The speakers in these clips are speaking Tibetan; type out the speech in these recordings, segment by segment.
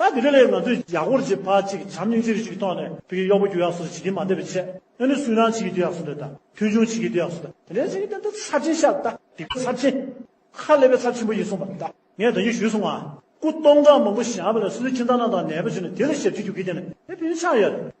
ད་དེ་རིང་ལས་ཡོད་ང་ཚོས་ཡག་པོར་བྱེད་ཕར་ཅིག་བྱམས་སྙིང་རྗེ་རུ་ཅིག་གཏོང་ནས་བོད་ཀྱི་གཡོག་པོ་རྒྱུ་ཡག་སོ་སོ་བྱེད་ཀྱིན་མ་བསྡད་པའི་ཆེད་ཨེ་ནུ་སུན་རང་བྱེད་ཀྱི་རྒྱུ་ཡག་སོ་འདོད་ད་མཐུན་ཆུང་བྱེད་ཀྱི་རྒྱུ་ཡག་སོ་འདོད་དེ་འདྲ་བྱེད་ཀྱི་འདོད་ད་ཚབས་ཆེན་ཤ་ད་དེ་ག་ཚབས་ཆེན་ཁ་ཀླད་པའི་ཚབས་ཆེན་པོ་ཡིན་གསུངས་པ་ད་ངས་དོན་གྱིས་ཞུས་སོང་ང་སྐུ་སྟོང་ཕྲག་མང་པོ་བཞག་པ་ལ་སུ་སུ་ཁྱིམ་ཚང་ནང་དང་ནད་པ་བྱུང་ན་དེ་ལ་ཞབས་ཕྱི་རྒྱུག་གི་ཡིན་ན་དེ་བོད་མི་ཆགས་ཡོད་རེད།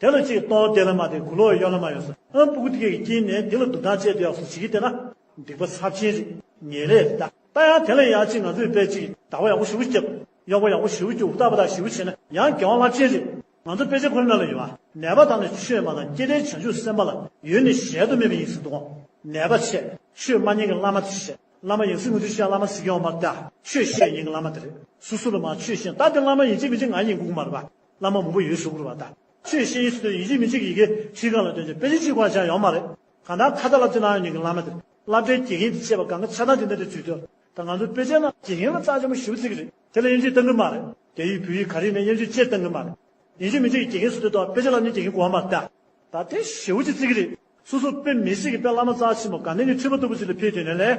དེ་ལ་ཅིག་སྟོང་དེ་ལ་མ་དེ་གུ་ལོ་གཡོ་ལ་མ་གཡོ་སོ་ཨ་པུཀུ་ཏི་ཀའི་དཀྱིལ་ནས་དེ་ལ་སྡུག་ཐང་ཆད་དེ་ཡག་སོ་ཅིག་གིས་དེ་ན་སྡིག་པ་ཚབས་ཆེན་རིག་ཉེས་ལས་རིག་ད་ལྟ་ཡང་དེ་ལ་ཡག་ཅིག་ང་ཚོས་དཔེ་ཅིག་བདག་པོ་ཡག་པོ་བཞི་བོ་སྐྱེ་དགོས་གཡོག་པོ་ཡག་པོ་བཞི་བོ་སྐྱེ་འུ་ཐག་པ་དག་བཞི་བོ་བྱེད་ན་ཡང་དགེ་བ་རླབས་ཆེན་རེད་ང་ཚོ་དཔེ་ཆ་ཁོ་ན་ལ་ཡོད་པ་ནད་པ་དང་ནི་ཆོས་མ་དང་སྐྱེ་བྲལ་བྱང་ཆུབ་སེམས་དཔའ་ལ་ཡོད་ནི་གཞལ་དུ་མེད་པ་ཡིན་སྲིད་དོ་ནད་པ་ཆད་ཆོས་མ་ཉན་གི་བླ་མ་དེ་ཆད་བླ་མ་ཡིན་སྲིད་ངུ་དུས་ཤ་བླ་མ་སྲིད་ཀྱང་མ་ད་ཆོས་བཤད་ཡིན་གི་བླ་མ་དེ་རེད་སུ་སུ་ལ་མ་ཆོས་བཤད་ད་དེ་བླ་མ་ཡིན་གཅིག་མི་གཅིག་ང་ཡིན་གུག་མ་རེད་པ་བླ་མ་མང་པོ་ཡོད་ཞུ་དགོས་པ་དང། ཆོས་བཤད་ཡུལ་སུ་སྟོན་ཡིན་གཅིག་མིན་གཅིག་གི་ཡི་གེ་ཁྲིད་གང་ལ་སྟོན་རྒྱུ་དཔེ་ཆ་གཅིག་བར་ཆ་ཡོང་མ་རེད། གང་ལྟར་ཁ་བརྡ་ལ་བསྟུན་ནའང་ཉིན་གྱི་བླ་མ་དེ་བསླབ་གྲྭའི་དགེ་རྒན་དེ་བྱས་པ་གང་གི་ཆ་ཚང་དེ་གནད་དུ་འཇུག་འདོད་ད་ང་ཚོའི་དཔེ་ཆའི་ནང་དགེ་རྒན་ལ་རྩ་ཆེན་པོ་ཞུ་རྩིས་ཀྱི་རེད་དེ་ལ་དབྱེ་འབྱེད་གཏང་གི་མ་རེད་རྒྱ་ཡིག་བོད་ཡིག་ག་རིགས་མིན་དབྱེ་འབྱེད་ཅེས་གཏང་གི་མ་རེད། ཡིན་གཅིག་མིན་གཅིག་གི་དགེ་རྒན་སུ་སྟོན་ཐོག་དཔེ་ཆ་ལ་ནི་དགེ་རྒན་གོ་བ་མ་རེད་ད། ད་དེ་ཞེ་བོ་ཅིག་རྩིས་ཀྱི་རེད། སོ་སོ་དཔེ་མི་སྲིད་ཀྱི་དཔེ་བླ་མ་རྩ་ཆེན་པོ་གང་ནས་ནི་འཁྲིད་པ་ལྟ་བུ་ཞིག་ལ་ཕེབས་དུས་ནས་ལས་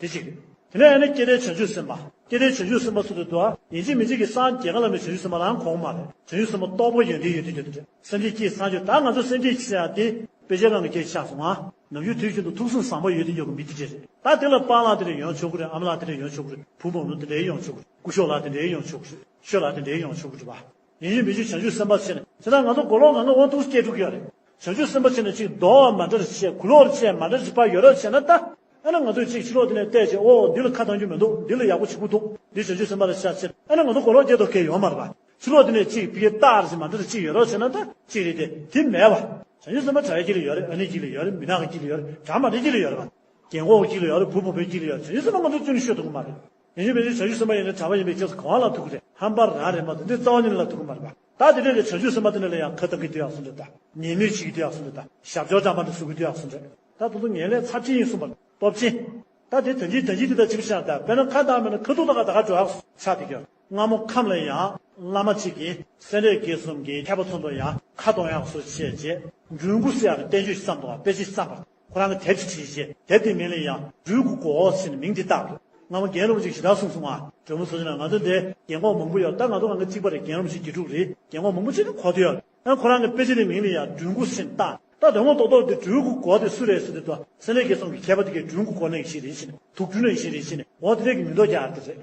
དེ་གཅིག། དེ་ནས་ཡང་ན་སྐྱེ་བྲལ་བྱང་ཆུབ་སེམས་དཔའ། སྐྱེ་བྲལ་བྱང་ཆུབ་སེམས་དཔའ་སུ་དེ་བསྡུ་ཨ། ཡིན་གཅིག་མིན་གཅིག་གི་སངས་རྒྱས་གང་ལ་མེད་བྱང་ཆུབ་སེམས་དཔའ་ལའང་གོང་མ་རེད། བྱང་ཆུབ་སེམས་དཔའ་རྟོགས་པ་ཡོན་ཏན་ཡོད་དུས་ཀྱི་དུས་ཀྱི། སེམས་ཀྱི་སྐྱེས་སངས་རྒྱས་ད་ང་ཚོ་སེམས་ཀྱི་སྐྱེས་ཡང་དེ། དཔེ་ཆའི་ནང་གི་སྐྱེས་ཆགས་སོང་ཨ། ནམ་རྒྱུན་དུས་རྒྱུན་དུ་ཐུགས་གསུང་བཟང་པོ་ཡོད་དུས་ཡོད་གི་མི་དེ་འདྲས་རེད། ད་དེ་ལ་སྤང་ལགས་དེ་འདྲས་ཡོང་ཆོག་གི་རེད་ཨམ་ལགས་དེ་འདྲས་ཡོང་ཆོག་གི་རེད་བུ་འབངས་ལུགས་དེ་འདྲས་ཡོང་ཆོག་གི་རེད་སྐུ་ཞོག་ལགས་དེ་འདྲས་ཡོང་ཆོག་གི་རེད་ཤོད་ལགས་དེ་འདྲས་ཡོང་ཆོག་གི་རེད་བ། ཡིན་ཡིན་མི་ཤེས་བྱང་ཆུབ་སེམས་དཔའ་ཆེ་ནི། ཇི་ལྟར་ང་ཚོ་མགོ་ལོག་ངང་ངམ་དབང་ཐུགས་སུ་སྐྱེས་དྲུག་ཡོད་རེད། བྱང་ཆུབ་སེམས་དཔའ་ཆེ་ནི་གཅིག་རྡོ་བ་མ་འདྲར་ཆེ་གུ་ལོག་ཆེ་མ་འདྲར་ཅིག་ཕ་ཡོད་རབས་ཆེ་ན་ལྟ། ཨ་ན་ང་ཚོས་གཅིག་ཕྱི་ལོག་འདི་ནས་བལྟས་རྗེས་ཨོ་འདི་ལ་ཁ་གདངས་རྒྱུ་མི་འདུག་འདི་ལ་ཡག་པོ་བྱེད་དགོས་འདུག་འདི་བྱང་ཆུབ་སེམས་དཔའ་ལ་ཤ་ཆེ་ཨ་ན་ང་ཚོ་མགོ་ལོག་སྐྱེས་དོགས་སྐྱེས་ཡོད་མ་རེད་པ། ཕྱི་ལོག་འདི་ནས་གཅིག་ཕི་ཡི་རྟགས་རེད་ཅིག་མ་འདྲར་ཅིག་ཡོད་རབས་ཆེ་ན་ལྟ་གཅིག་རེད་དེ་དེ་མེད་པ། བྱང་ཆུབ་སེམས་དཔའ་གྲྭ་བའི་དཀྱིལ་ལ་ཡོད་རེད་ཨ་ནེའི་དཀྱིལ་ལ་ཡོད་རེད་མི་ནག་གི་དཀྱིལ་ལ་ཡོད་རེད་གྲྭ་མ་འདྲའི་དཀྱིལ་ལ་ཡོད་རེད་པ། རྒན་གོག་གི་དཀྱིལ་ལ་ཡོད་རེད་བུ་བུ་མོའི་དཀྱིལ་ལ་ཡོད་རེད་བྱང་ཆུབ་སེམས་དཔའ་ང་ཚོའི་བཙུན་ནི་ཤོད་དུ་གོ་མ་རེད། ཡིན་ཞིང་མི་རིགས་བྱ་རྒྱུད་སེམས་དཔའ་ཡིན་ནི་གྲྭ་བ་ཡིན་པའི་རྗེས་སུ་གང་ལ་ཐུག་གི་རེད་ཧམ་པར་ར་རེད་མ་འདུག་འདི་རྩ་བ་ཉིད་ལ་ཐུག་གི་མ་རེད་པ་ད་དེ་འདྲས་ཀྱི་བྱ་རྒྱུད་སེམས་དཔའ་དེ་འདྲས་ལ་ཡང་ཁ་གཏང་གི་དུས་ཡག་སུ་འདྲས་ད་ཉེས་མེད་བྱེད་ཀྱི་དུས་ཡག་སུ་འདྲས་ད་ཞབས་སྦྱོར་ལྕང་པ་འདྲས་བཟོ་གི་དུས་ཡག་སུ་འདྲས་ད་ད་དུང་ངན་ལས་ཚབས་ཆེན་ཡིན་གསུངས་པ་ནི་སྟོབས་ཆེན་ད་དེ་དོན་གྱིས་དོན་གྱིས་དེ་ད་ཅི་བྱས་ན་ད་དཔེར་ན་ཁ་གཏང་མེད་ན་ཁ་ཐུག་ད་ག་ད་ག་འགྲོ་ཡག་སུ་ཆགས་འདི་གི་སྔ་མོ་ཁམས་ལ་ཡང་བླ་མ་གཅིག་གིས་སེང་རས་དགེ་གསུམ་གྱི་མཁས་པ་ཚོ་འདུག་ཡང་ཁ་གཏོང་ཡག་སུ་བྱས་རྗེས་འབྲུ་འགོ་སྲི་ཡག་གི་བསྟན་བཅོས་ཤིག་བརྩམས་འདུག་བ་དཔེ་ཅིག་བརྩམས་པར་ཁོ་རང་གི་དལ་གྱིས་བྲིས་ཞེས་དལ་དེ་མིང་ལས་ཡང་སྦྲུལ་གུ་གོ་འོག་ཟེར་ནས་མིང་དེ་བཏགས་འདུག་སྔ་མོ་རྒན་རབས་ཅིག་ཞེ་དྲག་གསུངས་སོང་ང་དྲོན་མོ་བཟོ་ཟིན་ལ་ང་ཚོའི་འདས་རྒན་གོང་མང་པོ་ཡོད་ད་ང་ཚོ་གང་གི་གཅིག་པ་རེད་རྒན་རབས་ཞེ་བརྒྱད་དྲུག་རེད་རྒན་གོང་མང་པོ་ཅིག་གོ་དེ་ཡོད་ཨང་ཁོ་རང་གི་དཔེ་ཆ་དེ་མིང་ལས་ཡང་སྦྲུལ་གུ་ཟེར་ནས་བཏགས་ད་དོན་དངོས་ཐོག་ཐོག་དེ་སྦྲུལ་གུ་གོ་དེ་སུ་རེད་ཟེར་དུས་ད་སེམས་ལས་རྒྱལ་སོང་གི་མཁས་པ་དེ་གས་སྦྲུལ་གུ་གོ་ནས་ཞིག་རེད་ཞེས་ནས་དུག་སྦྲུལ་ནས་ཞིག་རེད་ཞེས་ནས་འོ་དེ་རེད་གི་མིང་འདོགས་རྒྱག་ཨ་དེ་རེད།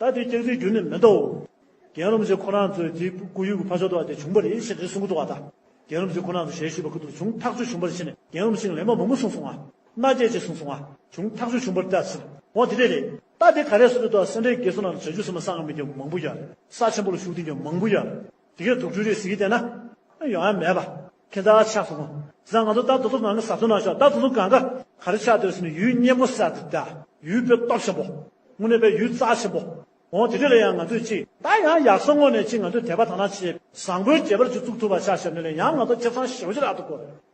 ད་དེ་སྐྱག་རྫིའི་རྒྱུ་ནི་མི་འདའོ། རྒན་རོམ་ཟེ་ཁོ་རང་ཚོའི་དེའི་སྐུ་ཡུལ་གྱི་ཕ་ཞོགས་དུ་བ་དེ་བྱུང་བ་རེད་ཞེས་རེ་ཟུང་གི་དུ་བ་དང། རྒན་རོམ་ཟེ་ཁོ་རང་ཚོ་ཞལ་བཞུས་པ་ཁུ་དུར་བྱུང་ཐག་ཆོད་བྱུང་བར་ཕྱིན་ནས་རྒན་རོམ་ཤིང་ལེབ་མ་མུ་མུ་གསུང་སོང་ང། མནའ་སྐྱེལ་བྱེད་གསུང་སོང་ང། བྱུང་ཐག་ཆོད་བྱུང་བར་བལྟས་ཟིན། འོ་དེ་འདྲས་རེད། ད་དེ་ག་རེ་སོ་དེ་དུ་བ་སེ་འབྲས་དགེ་སོ་ན་ལ་བྱ་རྒྱུ་སེ་མ་ས་ང་མི་རྒྱ་མང་པོ་ཡར། ས་ཆེན་པོ་ལ་ཞུགས་ཐེངས་ཀྱང་མང་པོ་ཡར། དེ་གའི་དུག་སྦྲུལ་རིགས་ཟེར་གྱི་བལྟས་ན། ཡོང་ཡ་མེད་པ། ཁྱེད་ད་ཆགས་སོང། བཟང་ང་ཚོ་ད་དུ་ཚོ་ནང་གི་ཟབ་ཚོང་ནང་ཤོག་ད་ཚོ་ཚོ་གང་ག་ག་རེ་ཆགས་སྡོད་ཟེར་ནས་ཡུལ་སྙན་མོ་སད་ད་ཡུལ་དཔེ་སྟོབས་ཆེན་པོ། དངོས་གནས་པའི་ཡུལ་རྩ་ཆེན་པོ། འོང་དེ་འདྲ་ལས་ཡང་ང་ཚོས་ཅིག་ད་ཡང་ཡག་སོང་ངོ་ནས་ཅིག་ང་ཚོས་དད་པ་དང་ན་ཆེས་བཟང་པོའི་རྒྱལ་པར་ཅིག་བཙུགས་ཐུབ་པ་ཆགས་ཞབས་ནས་ལས་ཡང་ང་ཚོ་ཁྱབ་ཚང་ཞེ་བོ་ཅིག་རག་ཏུ་དགོས།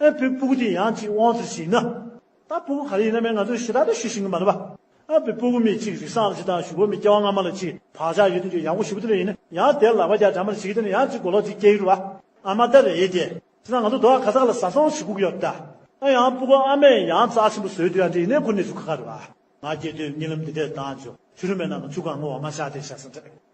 ཨ་བུའི་སྤུ་གུ་དེ་ཡང་ཅིག་དབང་དུ་བྱས་ན། ད་སྤུ་གུ་ག་རེ་ཡིན་ན་མེད་ང་ཚོས་ཞེ་དྲག་ཏུ་ཞུ་བཞིན་གི་མ་རེད་པ། ཨ་བུའི་སྤུ་གུ་མི་གཅིག་རིག་སངས་ལ་གཅིག་དང་ཞུ་བོ་མི་སྐྱེ་བ་སྔ་མ་ལ་གཅིག་བག་ཆགས་ཡོད་དོན་ཅུང་ཡག་པོ་ཞུ་བོ་དེ་འདྲ་ཡིན་ན་ཡང་དེར་ལག་པ་རྒྱག་དྲན་མ་རེ་བྱེད་ཀི་དེ་ནས་ཡང་ཅིག་མགོ་ལོག་ཅིག་སྐྱེ་གི་རེད་པ། ཨ་མ་ད་རེད་དེ། དེ་སང་ང་ཚོ་རྡོ་ཨ་ཁ་ཟག་ལ་བཟའ་ཚང་ཞིག་བསྒུག་ཡོད་ད། ཨ་ཡང་སྤུ་གུ་ཨ་མས་ཡང་རྩ་ཆེན་པོ་བཟོས་དུས་ཡང་དེ་ཡིན་ནའི་ཁུར་ནས་ཞུ་ཁ་ཁ་རེད་པ། ང་སྐྱེས་དུས་རྨི་ལམ་འདི་འདྲས་བཏང་བྱུང་ཆུ་རུ་མེད་ནང་གི་ཆུ་སྒང་ངོ་བོ་མ་ཤར་དེ་ཤར་སོང་དྲན།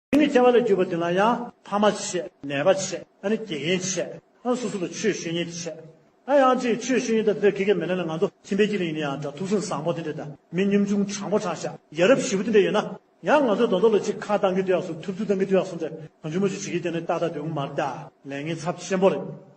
དེ་ནི་སྐྱེ་བ་ལས་གྱུར་པ་དེ་ན་ཡང་ཕ་མ་ཆད། ནད་པ་ཆད། ཨ་ནི་དགེ་རྒན་ཆད། ཨ་སོ་སོ་ལ་ཆོས་ཞུ་ཉེན་ཆད། ཨ་ཡང་ཅིག་ཆོས་ཞུ་ཉེན་དང་འདིར་དགེ་རྒན་མི་ལེན་ལ་ང་ཚོ་ཁྱིམ་པའི་སྐྱིད་རིང་ཡིན་ན་ཡང་འདྲ་ཐུགས་སེམས་བཟང་པོ་དེ་འདྲ་དང་མི་སྙོམས་ཆུང་དྲང་པོ་དྲང་ཤ་ཡ་རབ་ཞི་བོ་དེ་འདྲ་ཡོད་ན་ཡང་ང་ཚོའི་གདོང་ཐོག་ལ་ཅིག་ཁ་བཏང་གི་དུས་ཡག་སོ་ཐུབ་ཚུལ་བཏང་གི་དུས་ཡག་སོ་འདྲ་གང་ཆུང་མ་ཆུང་བྱེད་ཀྱི་དེ་ནི་ཏག་ཏག་དུས་དབུ་མར་བལྟས་ལན་ངེས་ཚབས་ཆེན་པོ་རེད།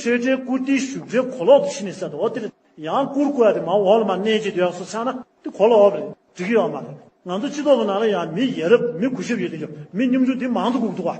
སྤྱོད་འབྲས་བཀུར་སྟིའི་བཞུགས་གྲལ་གོ་ལོག་ཏུ་ཕྱི་ནས་གསལ་འདུག་འོ་དེ་རེད། ཡང་བཀུར་བཀུར་བ་དེ་མ་འོག་ལ་མ་གནས་ཀྱི་དུས་ཡག་སོ་ཆགས་ན་དེ་གོ་ལ་འོག་རེད་འགྲིག་གི་ཡོད་མ་རེད། ང་ཚོ་སྤྱི་ཚོགས་ཀྱི་ནང་ལ་ཡང་མི་ཡ་རབས་མི་གུ་ཞབས་ཡོད་དུས་ཀྱང་མི་སྙོམས་འཇུག་དེ་མང་དུ་འགུག་འདུག་བ།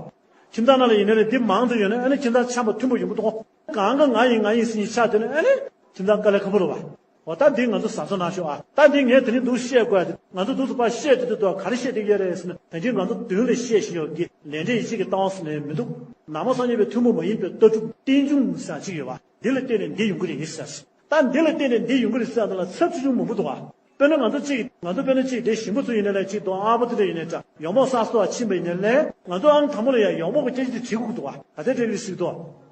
ཁྱིམ་ཚང་ནང་ལ་ཡིན་ན་ནི་དེ་མང་དུ་ཡོད་ན་ཨེ་ནི་ཁྱིམ་ཚང་ཆམ་པ་མཐུན་པོ་ཡིན་པོ་འདུག་གོ། གང་གི་ང་ཡིན་ང་ཡིན་ཟིན་གྱི་ཆགས་དུས་ན་ཨེ་ནི། ཁྱིམ་ཚང་དཀའ་ལས་ཁ་པོ་རུ་བ། འོ་རྟ་འདི་ང་ཚོ་ཟ་ཚོ་ན་ཤོག་ཨ། རྟ་འདི་ངས་དེ་རིང་སྡུག་བཤད་དགོས་ཨ། དེ་ང་ཚོ་སྡུག་ཚོ་པ་བཤད་དུས་དུས་ཏོ་ག་རེ་བཤད་དེ་ཡོད་རེད་ཟེར་ན་དེ་འདྲའི་ང་ཚོ་མདུན་ལས་བཤད་བཞིན་ཡོད་གི་ལས་འབྲས་ཡིད་ཆེས་ཀྱི་སྟངས་སུ་ནས་མི་འདུག་ནག་མོ་སངས་རྒྱས་པའི་ཐུན་མོང་མ་ཡིན་པའི་ལྟ་གྲུབ་རྟེན་འབྱུང་ཟེར་བ་གཅིག་ཡོད་བ་འདི་ལ་བརྟེན་ནས་འདི་ཡོང་གི་རེད་ཡིན་ཟེར་སྲིད་རྟ་འདི་ལ་བརྟེན་ནས་འདི་ཡོང་གི་རེད་ཟེར་བ་འདི་ལ་ཚབས་ཆེ་ཆུང་མང་པོ་འདུག་ཨ། དཔེར་ན་ང་ཚོ་གཅིག་ཡིན་ང་ཚོ་དཔེར་ན་གཅིག་དེ་ཞིམ་པོ་ཚོ་ཡིན་ནས་ལས་གཅིག་དོ་ཨ་པོ་ཏི་ཏྲ་ཡིན་ནས་ཏྲ་ཡོག་མོག་ས་སོ་ཨ་ཕྱིན་པ་ཡིན་ནས་ལས་ང་ཚོ་ཨང་དང་པོ་ལ་ཡང་ཡོག་མོག་གི་སྐྱེ་གཞི་དེ་བྲིས་དགོས་ཀྱི་འདུག་ཨ་ད་ལྟའི་དྲ་བའི་གཞི་འདུག་ཨ།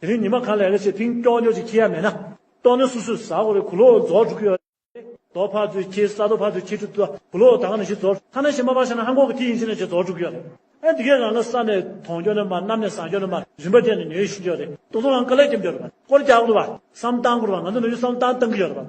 དེ་རིང་ཉི་མ་གང་ལས་ལས་བྱེད་ཕིང་ཀྱོག་ཀྱོག་ཅིག་ཁྱེར་ཡ་མེད་ན། ཏོག་ནི་སུ་སུས་ཟ་གོ་རེད་གུ་ལོ་རྫོགས་འགྲོ་གི་ཡོད་རེད། རྡོ་ཕར་ཚུར་ཁྱེར་ས་རྡོ་ཕར་ཚུར་ཁྱེར་དུས་ད་གུ་ལོ་ད་ག་ནས་ཤི་རྫོགས་ཐ་ན་ཤི་མ་པ་ཤི་ན་ཧན་གོག་གི་ཐི་ཡིན་ཤི་ན་ཤི་རྫོགས་འགྲོ་གི་ཡོད་རེད། ཨེ་འདི་གས་རང་ལ་ས་ནས་དོང་སྐྱོ་ནས་མ་གནམ་ནས་ཟངས་སྐྱོ་ནས་མ་རིན་པ་སྤྲད་ནས་ཉོས་ཤི་གི་ཡོད་རེད། ཏོག་ཚོང་ལ་ཀ་ལས་ཀྱི་འདོད་པ་སྐོར་རྒྱག་གི་འདུག་བསམ་སྟངས་སྐོར་བ་ང་ཚོ་ནས་ཡུལ་བསམ་སྟངས་གཏང་གི་ཡོད་རེད།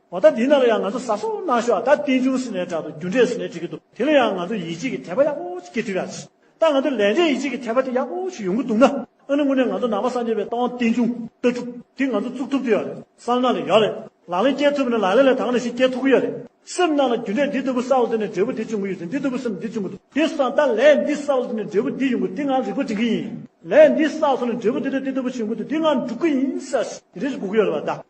འོ་ད་འདི་ནང་ལ་ཡང་ང་ཚོ་ཟ་སོ་གནང་ཤོག་ཨ་ད་ཏིན་ཅུང་ཟི་ནས་དྲག་ཏུ་རྒྱུ་འབྲས་སུ་ནས་འགྲིག་གི་འདུག་དེ་ལ་ཡང་ང་ཚོ་ཡིད་ཆེས་ཀྱི་དད་པ་ཡག་པོ་ཅིག་སྐྱེ་ཐུབ་ཡག་ཅིག་ད་ང་ཚོ་ལས་འབྲས་ཡིད་ཆེས་ཀྱི་དད་པ་དེ་ཡག་པོ་ཞིག་ཡོང་གི་འདུག་ན་ཨ་ནི་དངོས་གནས་ང་ཚོ་ནང་པ་སངས་རྒྱས་པའི་ཏང་ཏིན་ཅུང་ལྟ་གྲུབ་དེ་ང་ཚོ་བཙུགས་ཐུབ་ཀྱི་ཡོད་རེད་བསམ་ན་ལ་ཡོད་རེད་ལག་ལེན་སྐྱེལ་ཐུབ་པ་ནི་ལག་ལེན་ལས་དྭངས་ནས་ཤིག་སྐྱེལ་ཐུབ་ཀྱི་ཡོད་རེད་སེམས་ནང་ལ་རྒྱུ་འབྲས་འདི་ལྟ་བུ་གསལ་བོ་དེ་ནས་འབྲས་བུ་འདི་བྱུང་གི་ཡོད་ཚེ་འདི་ལྟ་བུ་སེམས་འདི་བྱུང་གི་འདུག་དེ་སོང་ད་ལས་འདི་གསལ་བོ་དེ་ནས་འབྲས་བུ་འདི་ཡོང་གི་འདི་ངང་རིག་པ་འབྲིང་གི་ཡིན་ལས་འདི་གསལ་སོང་ནས་འབྲས་བུ་འདི་ལྟ་འདི་ལྟ་བུ་བྱུང་གི་འདུག་འདི་ངང་འགྲུབ་ཀྱི་ཡིན་གསལ་ཞིག་རེ་ཞིག་དགོས་ཀྱི་ཡོད་རེད་བ་ད།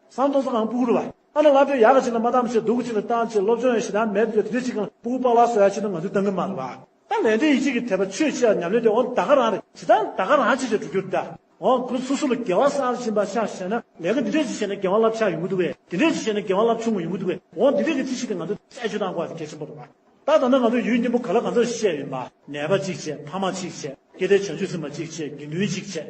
སང་ཐོག་ས་གང་སྤུ་གུར་བ། ཨ་ན་ང་ཚོས་ཡག་གི་ཆེད་ལ་མ་ཏམ་ཆེད་སྡུག་གི་ཆེད་ལ་ཏང་ཆེད་སློབ་སྦྱོང་ཡང་ཞེ་སྡང་མེད་དུ་ཡོད་དེ་འདི་གཅིག་གམ་སྤུ་གུར་པགས་ལག་བཟོ་ཡག་ཆེད་དུ་ང་ཚོས་གཏང་གི་མ་རེད་བ། ད་ལས་འབྲས་ཡིད་ཆེས་ཀྱི་དད་པ་ཆོས་ཆེ་བ་ཉམས་ལེན་དེ་འོང་ད་ག་རང་རེད་ཞེ་སྡང་ད་ག་རང་ཆེ་ཆེ་འགྲོ་རྒྱུར་གདའ། འོང་ཁོ་སོ་སོ་ལ་དགེ་བ་གསར་བཞིན་པ་ཆགས་བྱས་ན་ལས་ཀ་འདི་འདྲས་ཅིག་བྱས་ན་དགེ་བ་རླབས་ཆགས་ཡོང་གི་འདུག་བས་དེ་འདྲས་ཅིག་བྱས་ན་དགེ་བ་རླབས་ཆུང་ངུ་ཡོང་གི་འདུག་བས་འོང་འདི་འདྲས་ཀྱི་ཚིག་བཤད་དེ་ང་ཚོས་རྩད་གཅོད་གཏང་དགོས་བ་དེ་གལ་ཆེན་པོ་རེད་བ། ད་ད་ནི་ང་ཚོས་ཡུལ་གཉན་པོ་ག་ལ་གང་ཚོད་བཤད་ཡོད་བ། ནད་པ་གཅིག་བྱས་ཕ་མ་གཅིག་བྱས་སྐྱེ་ལྡན་བྱང་ཆུབ་སེམས་དཔའ་གཅིག་བྱས་དགེ་འདུན་གཅིག་བྱས།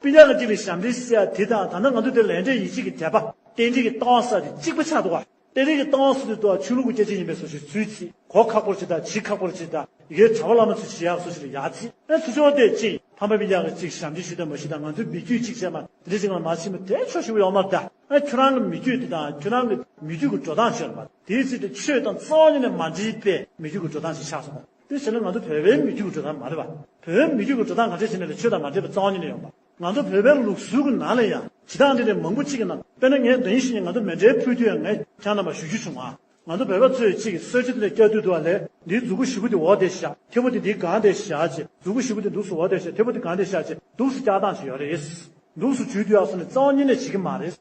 དཔེ་ཆ་གཅིག་ལས་ཞབས་འདྲེན་བྱེད་ས་དེ་དང་ད་ནི་ང་ཚོ་དེར་ལན་འབྲས་ཡིད་ཆེས་ཀྱི་དད་པ་རྟེན་འབྲེལ་གྱི་གཏང་ས་དེ་གཅིག་པ་ཆགས་འདུག་གཏན་རེ་གི་གཏང་ས་དེ་དུ་བ་ཆོས་ལུགས་ཀྱི་སྐྱེད་བྱེད་ཡིན་པས་སོ་ཞེས་ཚུལ་གྱིས་གོ་ཁག་པོར་བྱེད་དང་བྱེད་ཁག་པོར་བྱེད་དང་ཡི་གེའི་དྲ་བ་བླ་མ་ཚུལ་གྱིས་ཡག་སོ་ཞེས་ལ་ཡག་བྱེད་ཨེ་ཚུལ་ཆོག་དེ་གཅིག་ཡིན་ཕམ་པ་པའི་ཡག་གི་གཅིག་ཞབས་འདྲེན་ཞུས་དང་མ་ཞུས་དང་ང་ཚོའི་མི་རྒྱུད་གཅིག་བྱས་མ་དེ་འདྲ་ཅིག་ལ་མ་བྱས་མོད་དེ་ཆོག་ཞུས་པ་ཡོག་མ་དེ་ཨེ་ཁྱོད་རང་གི་མི་རྒྱུད་དེ་དང་ཁྱོད་རང་གི་མི་རྒྱུད་ཀྱི་འགྲོ་སྟངས་ཆོས་ལ་མ་དེའི་ཚིག་དེ་ཆོས་དང་རྩ་བ་ཉིད་ནས་མ་འདྲེས་པས་མི་རྒྱུད་ཀྱི་འགྲོ་སྟངས་ཞིག་ཆགས་སོང། དེ་བྱས་ན་ང་ཚོ་བོད་པའི་མི་རྒྱུད་ཀྱི་འགྲོ་སྟངས་མ་རེད་པ། བོད་མི་རྒྱུད་ཀྱི་འགྲོ་སྟངས་ག་འདྲས་བྱས་ནས་ལས་ཆོས་དང་མ་འདྲེས་པའི་རྩ་བ་ཉིད་ལས་ཡོང་པ། ང་ཚོ་བོད་པའི་ལུགས་སྲོལ་གྱི་ནང་ལས་ཡང་བྱེད་སྟངས་འདྲེས་ནས་མང་པོ་གཅིག་གི་ནང་དཔེར་ན་ངས་འདི་ཡིན་ཞེས་ངས་ང་ཚོ་མེ་འདྲའི་ཕུད་དུས་ཡང་ངས་ཀྱང་རྣམ་པར་ཞུ་རྒྱུ་བྱུང། ང་ཚོ་བོད་པ་ཚོས་གཅིག་གི་སྲོལ་ཕྱེ་དེ་ལས་སྐྱ་དུད་འདུག་བ་ལས་འདིའི་རྫུ་གུ་བཞི་པོ་དེ་འོག་དེ་བཞག་མཐེ་བོ་དེ་འདིའི་སྒང་དེ་བཞག་ཅེས་རྫུ་གུ་བཞི་པོ་དེ་འདུག་སུ་འོག་དེ་བཞག་མཐེ་བོ་དེ་སྒང་དེ་བཞག་ཅེས་འདུག་སུ་བཀྱག་སྟངས་ཅིག་ཡོད་རེད། འདུག་སུ་བྱུས་དུས་ཡག་སོང་ནས་རྩ་བ་ཉིད་ནས་བྱེད་ཀྱི་མ་རེད།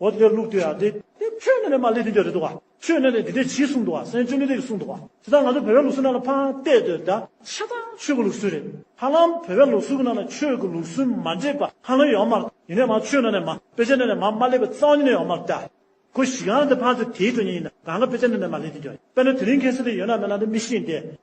འོ་དེ་ལུགས་དེ་ཡ་དེ། དེ་ཆོས་ཉིད་ལས་མ་ལས་དེ་འདྲ་རེད་འདུག་བ། ཆོས་ཉིད་ལས་དེ་འདྲ་གྱིས་གསུངས་འདུག་བ་སེམས་ཆོས་ཉིད་ལས་ཀྱིས་གསུངས་འདུག་བ། དེ་དག་ང་ཚོ་བོད་པའི་ལུགས་སྲོལ་ནང་ལ་ཕངས་གཏད་འདོད་ད། ཆ་ཚང་ཆོས་ཀྱི་ལུགས་སྲོལ་རེད། ཧ་ལམ་བོད་པའི་ལུགས་སྲོལ་གྱི་ནང་ལ་ཆོས་ཀྱི་ལུགས་སྲོལ་མ་འདྲེས་པ་ཧ་ལམ་ཡོད་མ་རེད། ཡིན་ནའི་མ་ཆོས་ནང་ནས་མ། དཔེ་ཆ་ནང་ནས་མ་མ་ལས་པའི་གཙང་ཉིད་ནས་ཡོད་མ་རེད་ད། ཁོ་གཞི་གང་དེ་ཕངས་ཚེ་དེའི་གྲོགས་ཉིད་ཡིན་ན་གང་གི་དཔེ་ཆ་ནང་ནས་མ་ལས་དེ་འདྲ་རེད། དཔེར་ན་དེ་རིང་མཁན་སེར་དེ་ཡོད་ན་མེད་ན་དེ་མི་ཤེས་ཏེ།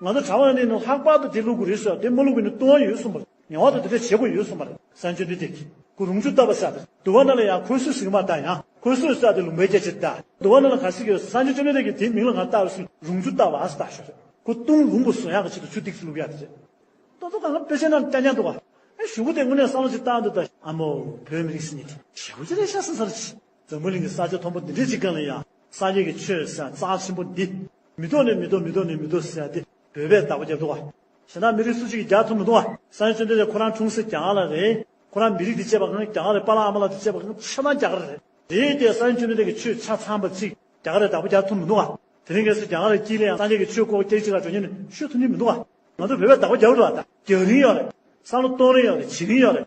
ང་ཚོ་གྲྭ་བ་ནི་ནི་ལྷག་པར་དུ་དེ་བླུག་དགོས་རེད་ཟེར་བ་དེ་མ་བླུག་པའི་ནི་ལྟུང་བ་ཡོད་གསུངས་པ་རེད་ངེས་བར་དུ་དེ་འདྲ་བྱེད་དགོས་ཡོད་གསུངས་པ་རེད་གསར་འབྱོར་འདི་དེབ་ཀྱི་གུ་རུང་ཆུ་བཏབ་པ་ཟེར་བ་དེ་དུ་བ་ན་ལ་ཡང་ཁོལ་སོས་ཟིག་མ་བཏགས་ཡང་ཁོལ་སོས་བསགས་ཏེ་ལུང་པའི་སྐྱེ་ཕྱིར་བཏགས་དུ་བ་ན་ལ་ག་ཟིག་ཡོད་གསར་འབྱོར་ཅོ་ནེ་རེད་ཀྱི་དེའི་མིང་ལ་ང་བཏགས་སུ་རུང་ཆུ་བཏབ་བ་ཟེར་བཏགས་ཞོར་རེད་ཁོ་ལྟུང་རུང་པོ་བཟོ་ཡག་གི་ཆེད་དུ་ཆུ་ཐིགས་སུ་བླུག་ཡག་དེ་རེད། ལྟོ་ལྟོ་གང་ལ་དཔེ་ཆ་རྣམས་བསྐྱར་སྐྱར་འདུག་བ། ཨེ་གཞུང་པོ་དེ་དངོས་གནས་བསམ་བློ་ཅིག་བཏང་འདུག་ད། ཨ་མོ་བོད་མི་རིགས་སུ་ཉིད་དེ། ཞེ་བོ་ཅི་རེད་ཤ་ཟ་ཟ་རེད། འཛམ་བུའི་གླིང་གི་ས་ཆ་མཐོན་པོ་འདི་འདྲའི་ཅིག་གང་ལ་ཡང་ས་སྐྱེས་ཀྱི་ཆོས་ཟེར་བ་རྩ་ཆེན་པོ་འདི། མི་རྟོག་ནས་མི་རྟོག་མི་རྟོག་ནས་མི་རྟོག་ཟེར་བ་འདི་བོད་པས་བདག་པོ་རྒྱབ་འདུག་བ། ཞེ་འདང་མི་རིགས་སུ་གཅིག་གིས་རྒྱག་ཐུབ་མི་འདུག་བ། ས་ཡོན་བརྩོན་འགྲུས་ལས་ཁོ་རང་འཁྲུངས་སེ་རྒྱ་གར་ལ་རེད། ཁོ་རང་མི་རིགས་འདི་གཅེས་པ་གང་རྒྱ་གར་རེད་པཱ་ལགས་ཨ་མ་ལགས་འདི་གཅེས་པ་གང་ཆེ་མང་རྒྱ་གར་རེད། དེའི་ལྟས་ས་ཡོན་བརྩོན་འགྲུས་ལས་ཀྱི་ཆོས་ཆ་ཚང་པ་ཅིག་རྒྱ་གར་རེད་བདག་པོ་རྒྱག་ཐུབ་མི་འདུག་བ། དེ་རིང་གལ་སྲིད་རྒྱ་གར་རེ་སྐྱིད་ལ་ཡང་སངས་རྒྱས་ཀྱི་ཆོས་ལྐོག་རྒྱག་ཅིག་ལ་འགྲོ་ཉེན་ནས་ཤོད་ཐུབ་ཉེན་མི་འདུག་བ། ང་ཚོ་བོད་པས་བདག་པོ་རྒྱག་རུ་བ་རྒྱག་རིན་ཡོད་རེད། བསམ་བློ་གཏོང་རིན་ཡོད་རེད་བྱེད་རིན་ཡོད་རེད།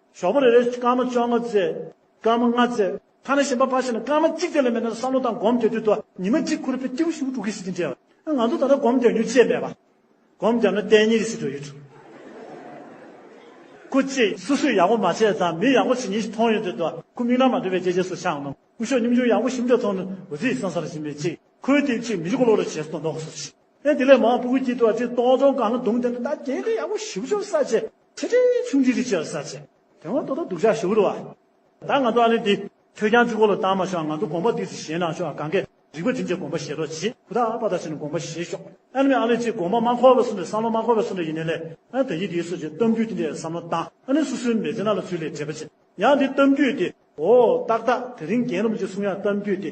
ཞོགས་པ་རེ་རེར་སྐར་མ་བཅོ་ལྔ་བརྩེགས། སྐར་མ་ལྔ་བརྩེགས། ཐ་ན་གཞན་པ་ཕར་ཕྱིན་ན་སྐར་མ་གཅིག་བརྩེགས་ལས་མེད་ན་བསམ་བློ་དང་སྒོམ་བསྡད་དུས་དུ་ཉི་མ་གཅིག་ཁུར་པའི་ཏིའུ་ཞིག་དྲུག་གི་གཟི་བརྗིད་འདྲའོ། ང་ཚོ་ད་ལྟ་སྒོམ་བརྒྱབ་མྱུར་ཅེས་སྨྲས་པ། སྒོམ་བརྒྱབ་ན་གཏན་ཉིན་རེ་ཟིན་འགྲོ་ཡི་འདྲ། ཁུ་ཅི། སུ་སུས་ཡག་པོ་མ་བྱས་ཙང་མི་ཡག་པོ་བྱེད་ཉིན་ཞིག་མཐོང་ཡོང་དུས་དུ་ཁུ་མིག་ནང་མ་འདྲེས་པའི་ལྕེ་ལྕེ་སོ་ཤང་ནང་སྐུ་ཞོགས་སྙོམས་འཇུག་ཡག་པོ་ཞིབ་འདྲ་ཐོག་ནས་འོད་ཟེར་སང་སང་རེ་བཞིན་མེད་ཅིག་ཁོའི་ཏིའུ་གཅིག་མི་ལོ་ལོ་རེ་བྱས་སོ་ནོག་སོ་ཞིག། ཨེ་དེ་ལས་མང་པོ་ཀུ་ཀུ་སྐྱིད་དུ་བ་ཅིག་ཏོག་ཙོང་གང་ལ་རྡུང་བསྡད་ན་ད་དེ་ལས་ཡག་པོ་ཞིབ་ཞོར་ས་ཆེ་ཁྲི་ཁྲི་ཆུང་ཁྲི་ཁྲི་ཆེ་ས་ཆེ། དེ་སྔོན་ཏོག་ཏོག་སྡུག་ཅག་ཞུགས་རུ་བ། ད་ང་ཚོ་ཨ་ལེ་འདི། ཁྱོད་ཀྱང་ཅི་གོ་ལོ་བཏང་མ་ཤོག་ང་ཚོ་དགོངས་པ་འདུས་སུ་བཞེས་ན་ཆོག་གང་གཱའི་རིག་པ་དྲིན་ཆེ་དགོངས་པ་བཞེས་རོགས་གྱིས་ཁུ་ཐག་པ་ཐག་བྱས་ནས་དགོངས་པ་བཞེས་ཤོག Anyway ཨ་ལེ་ཅིག་དགོངས་པ་མ་འཁོར་བ་སུ་འདྲ་བསམ་བློ་མ་འཁོར་བ་སུ་འདྲ་ཡིན་ནས་ལས་ཨ་དེ་ཡིན་དེ་ཡིན་སོགས་ཀྱི་གཏམ་རྒྱུད་དེ་འདྲས་བསམ་བློ་བཏང་ཨ་ནི་སུ་སུའི་མེ་ལྕེ་ན་ལ་ཚུད་ལས་བྲེལ་བ་ཆེ་ཡང་འདི་གཏམ་རྒྱུད་དེ་ཨོ་ཏག་ཏག་དེ་རིང་རྒན་རབས་ཀྱི་གསུང་ཡང་གཏམ་རྒྱུད་དེ།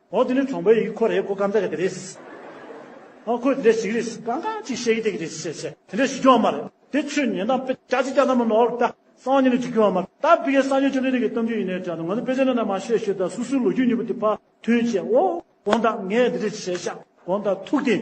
ཨོ་དེ་ནི་གྲོང་པའི་ཡིག་ཁོ་རེད་གོ་སྐམ་ད་རེད་གི་རེད། ཨ་ཁོས་དེ་འདྲའི་ཞིག་རེད། གང་གང་ཅིག་བཤད་ཀྱི་དེ་གི་རེད་བཤད་བཤད། དེ་འདྲའི་ཞིག་སྐྱོ་བ་མ་རེད། དེ་ཆོས་ཉན་དང་དཔེ་ཆ་ཅིག་ཅར་ན་མ་ནོར་བ་ལྟ། སང་ཉིན་ནི་ཅིག་སྐྱོ་བ་མ་རེད། ད་དཔེ་ཁའི་སང་ཉིན་ཆོས་འདི་རིགས་ཀྱི་གཏམ་རྒྱུད་ཡིན་ནའི་དྲན་འདུག་ང་ཚོ་དཔེ་ཆ་ནང་ན་མ་ཤེས་ཤོད་ད་སུ་སུའི་ལོ་རྒྱུས་སྙིང་པོ་དེ་ཕ་མཐུན་བྱས་ཨོ། དགོངས་དག་ངས་འདི་འདྲའི་ཞིག་བྱས་ཤག་དགོངས་དག་ཐུགས་བདེ།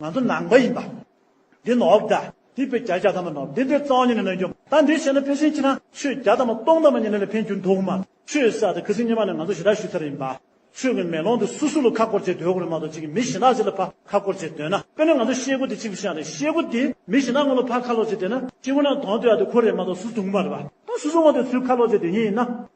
ང་ཚོ་ནང་པ་ཡིན་པ། འདི་ནོབ་ད། འདི་བོད་རྒྱ་རྒྱ་དམ་པ་ནོབ་འདི་འདི་རྩ་བ་ཉིད་ནས་ནོན་རྒྱུ་ད་འདི་བཤད་ན་ཕན་སེམས་ཅི་ཐང་ཆོས་རྒྱ་དམ་པ་སྟོང་དམ་པ་ཉིད་ནས་ལས་ཕན་རྒྱུ་འདུག་མ་ཆོས་ས་དེ་ཁི་སིང་སྙེ་མ་ནས་ང་ཚོ་ཞི་དྲག་ཞུས་ཚར་ཡིན་པ། ཆོས་ཀྱི་མེ་ལོང་དེ་སུ་སུ་ལ་ཁ་བསྐོར་བྱེད་འདོད་དགོས་རེད་མ་གཏོགས་གཅིག་གི་མི་ཞི་ནག་ཅིག་ལ་ཕ་ཁ་བསྐོར་བྱེད་འདོད་ན་དཔེར་ན་ང་ཚོ་ཤེལ་སྒོ་དེ་གཅིག་པུ་བཞག་ནས་ཤེལ་སྒོ་དེ་མི་ཞི་ནག་ངོ་ལ་ཕ་ཁ་ལོག་བྱེད་འདོད་ན་གཅིག་པུ་ན་དོང་སྟེ་ཡ་དེ་ཁོ་རེད་མ་གཏོགས་སུ་འདུག་མ་རེད་པ། ད་སུ་སུ་ངོ་དེ་སུའི་ཁ་ལོག་བྱེད་འདོད་ངེས་ཡིན་ན།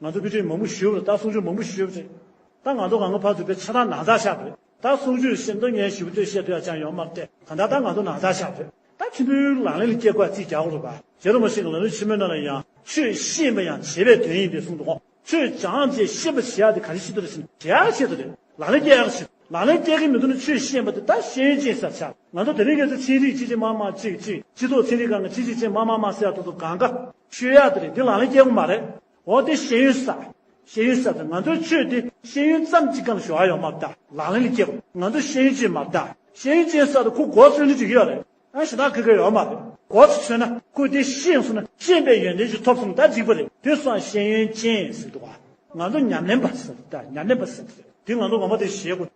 ང་ཚོ་དཔེ་ཁྲིད་མང་པོ་ཞུས་པ་རེད་ད་གསུང་ཆོས་མང་པོ་ཞུས་པ་རེད་ད་ང་ཚོ་གང་གི་ཕར་ཚུར་བེད་ཆ་ད་ནང་ཚགས་ཤག་རེད་ད་གསུང་ཆོས་བཤད་མདོ་སྙན་ཞུ་བསྟོད་བཤད་དུ་ཡང་ཅང་ཡོང་མ་སྟེ་གང་ད་ད་ང་ཚོ་ནང་ཚགས་ཤག་རེད་ད་ཁྲིམས་དཔོན་ལག་ལེན་ལ་སྐྱེལ་དགོས་ཡ་རྩིས་རྒྱག་དགོས་རེད་པ་རྗེ་རོ་མ་ཞིག་གི་ལག་ལེན་ཆེན་མོའི་ནང་ལ་ཡང་ཆོས་ཤེས་པ་ཡང་བྱེད་པའི་དོན་ཡིན་པའི་གསུང་འདུག་ཆོས་སྦྱངས་རྗེས་ཤེས་པ་བྱེད་ཡག་དེ་ག་རེ་བྱེད་དུ་རེད་བྱེད་ཡག་གི་ཆེད་དུ་རེད་ལག་ལེན་སྐྱེལ་ཡག་གི་ཆེད་དུ་ལག་ལེན་སྐྱེལ་གི་མི་འདུག་ན་ཆོས་ཤེས་པ་དེ་ད་ཤེས་ཡོན་ཅན་ཟེར་བྱ། ང་ཚོ་དེ་རིང་གེ་སེ་ཚེ་རིག་གཅིག་ཅེ་མ་མ་གཅིག་གཅིག་གཅིག་ཐོག་ཚེ་རིག་གང་གི་གཅིག་གཅིག་ཅེ་མ་མ་མ་སེ་ཡ་ཐོག་ཐོག་གང་ག། ཤོད་ཡ་དེ་རེད་འདི་ལང་ལེ་སྐྱེ་བོ་མ་རེད་འོ་དེ་ཤེས་ཡོན་ས། ཤེས་ཡོན་ས་དེ་ང་ཚོའི་ཆོས་དེ་ཤེས་ཡོན་ཙམ་གཅིག་གམ་ཞོ་ཨ་ཡོ་མ་བལྟ་ལང་ལེ་ལེ་སྐྱེ་བོ་ང་ཚོ་ཤེས་ཡོན་ཅེ་མ་བལྟ་ཤེས་ཡོན་ཅེ་ས་དེ་ཁོ་གོ་ཚོད་འདི་འདྲི་གི་ཡོད་རེད་ཨ་ཞེ་ད་གི་གི་ཡོད་མ་རེད་གོ་ཚོད་ཚོད་ན་ཁོ་དེ་ཤེས་སོང་ན་ཤེས་པའི་ཡོན་ཏན་ཞིག་ཐོབ་སོང་ད་འཇིག་པ་རེད་དེ་སང་ཤེས་ཡོན་ཅན་ཟེར་འདུག་ང་ཚོ་ཉམས་ལེན་པ་ཟེར་འདུག་ད་ཉམས་ལེན་པ་ཟེར་འདུག་དེ་ང་ཚོ་ངོ་མ་དེ་ཞེས་གོ།